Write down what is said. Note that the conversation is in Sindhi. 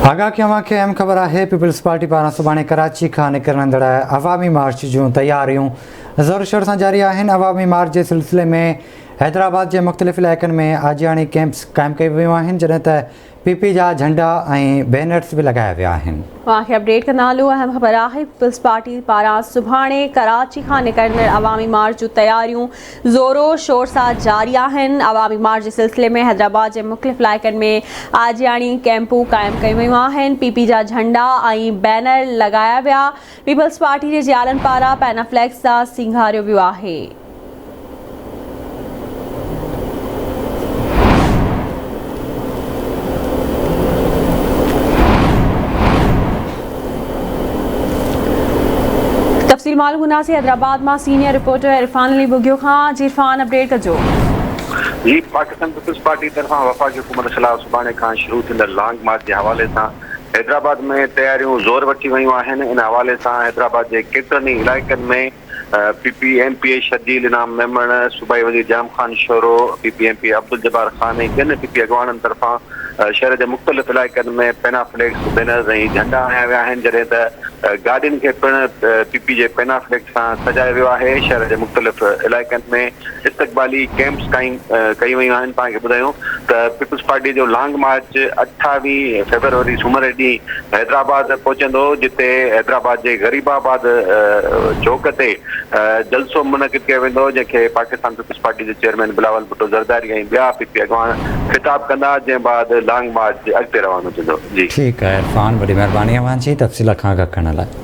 آگاهه ڪيون اوهان کي اهم خبر آهي پيپلز پارٽي پاران سڀاڻي ڪراچي کان نڪرندڙ عوامي مارچ جون تياريون زور شور سان جاري آهن عوامي مارچ جي سلسلي ۾ حيدرآباد جي مختلف علائقن ۾ آجياڻي ڪيمپس قائم ڪيون ويون آهن جڏهن ته پي پي جا جهنڊا ۽ بينرز به لڳايا ويا آهن اوهان کي اپڊيٽ ڪندا هلون اهم خبر آهي پيپلز پارٽي پاران سڀاڻي ڪراچي کان نڪرندڙ عوامي مارچ جون تياريون زورو شور سان جاري آهن، عوامي مارچ جي سلسلي ۾ حيدرآباد جي مختلف علائقن ۾ آجياڻي ڪئمپون قائم ڪيون ويون آهن، پي پي جا جهنڊا ۽ بينر لڳايا ويا، پيپلز پارٽي جي جيالن پاران پينا فليڪس سان سينگاريو ويو آهي. تفصيل معلوم ڪنداسين حيدرآباد مان سينيئر رپورٽر عرفان علي ٻگهيو کان جي عرفان اپڊيٽ ڪجو. جي پاڪستان پيپلز پارٽي طرفان وفاقي حڪومت خلاف سڀاڻي کان شروع ٿيندڙ لانگ مارچ جي حوالي سان حيدرآباد ۾ تياريون زور وٺي ويون آهن ان حوالي سان حيدرآباد جي ڪيترن ئي علائقن ۾ P P M P A Sharjeel Inam Memon, صوبائي وزير Jam Khan Shoro, P P M P A Abdul Jabbar Khan ۽ ٻين پي پي اڳواڻن طرفان شهر جي مختلف علائقن ۾ پينا فليڪس، بينرز ۽ جهنڊا هنيا ويا آهن جڏهن ته گاڏين کي پڻ پي پي جي پينا فليڪس سان سجايو ويو آهي. شهر جي مختلف علائقن ۾ استقبالي ڪئمپس قائم ڪيون ويون آهن. پاڻ کي ٻڌايون ته پيپلز پارٽي جو لانگ مارچ اٺاويهه فيبروري سومر ڏينهن حيدرآباد پهچندو جتي حيدرآباد جي غريب آباد چوڪ تي جلسو منعقد ڪيو ويندو جنهن کي پاڪستان پيپلز پارٽي جي چيئرمين بلاول ڀٽو زرداري ۽ ٻيا پي پي اڳواڻ خطاب ڪندا جنهن بعد لانگ مارچ جي اڳتي روانو ٿيندو. ٺيڪ آهي عرفان وڏي مهرباني اوهان جي تفصيل کان آگاهه ڪرڻ لاء.